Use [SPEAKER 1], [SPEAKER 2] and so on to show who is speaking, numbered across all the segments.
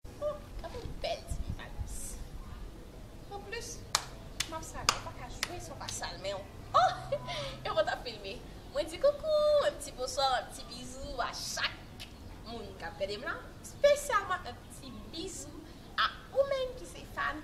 [SPEAKER 1] Oh, gade yon bèl ti mimalis. Anplis, map sal, ou paka jwe san w pa sal men w. Oh! Yo pa ta filme. Mwen di koukou, yon ti bonswa, yon ti bizou a chak moun kap gade m la. Spesyalman yon ti bizou a ou menm ki se fan.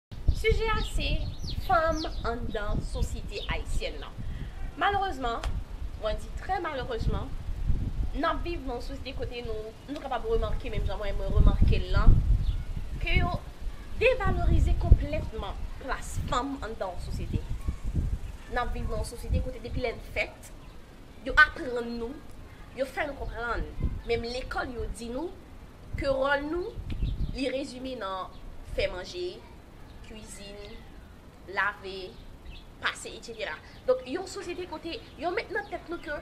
[SPEAKER 2] Sijè a
[SPEAKER 1] se, Fanm anndan sosyete ayisyèn nan. Malerezman, mwen di trè malerezman, n ap viv nan yon sosyete kote nou, nou kapab remake menm jan mwen mwen remake l lan, ke yo devalorize konplètman plas fanm anndan yon sosyete. N ap viv nan yon sosyete kote depi lè n fèt, yo aprann nou, yo fè nou konprann, menm lekòl yo di nou, Ke ròl nou, li rezime nan fè manje, kwizin, lave, pase etc. Donk yon sosyete kote yon met nan tèt nou ke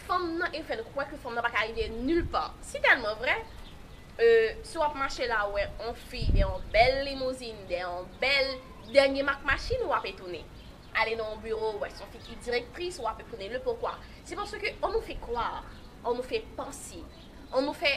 [SPEAKER 1] fanm nan e fè nou kwè ke fanm nan pa ka rive nul pa. Si tèlman vrè, e si w ap mache la ou wè yon fi dè yon bèl limouzin, dè yon bèl dènye mak machin, w ap etone. Ale nan yon biwo ou wè se yon fi ki direktris, w ap etone. Le pokwa? Se paske on nou fè kwa, on nou fè panse, on nou fè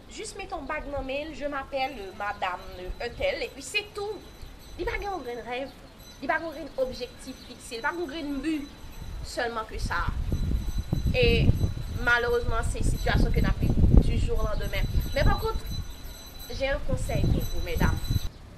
[SPEAKER 1] Jis mete yon bag nan men l, je m'appelle madame un tel epi se tou. Li pa gen yon grenn rèv, li pa gen yon grenn objektif fikse, li pa gen yon grenn bi sèlman ke sa. E malerezman se sitiyasyon ke n'ap viv du jour au lendemain. Men pa kont, j'ai un conseil pour vous mesdames.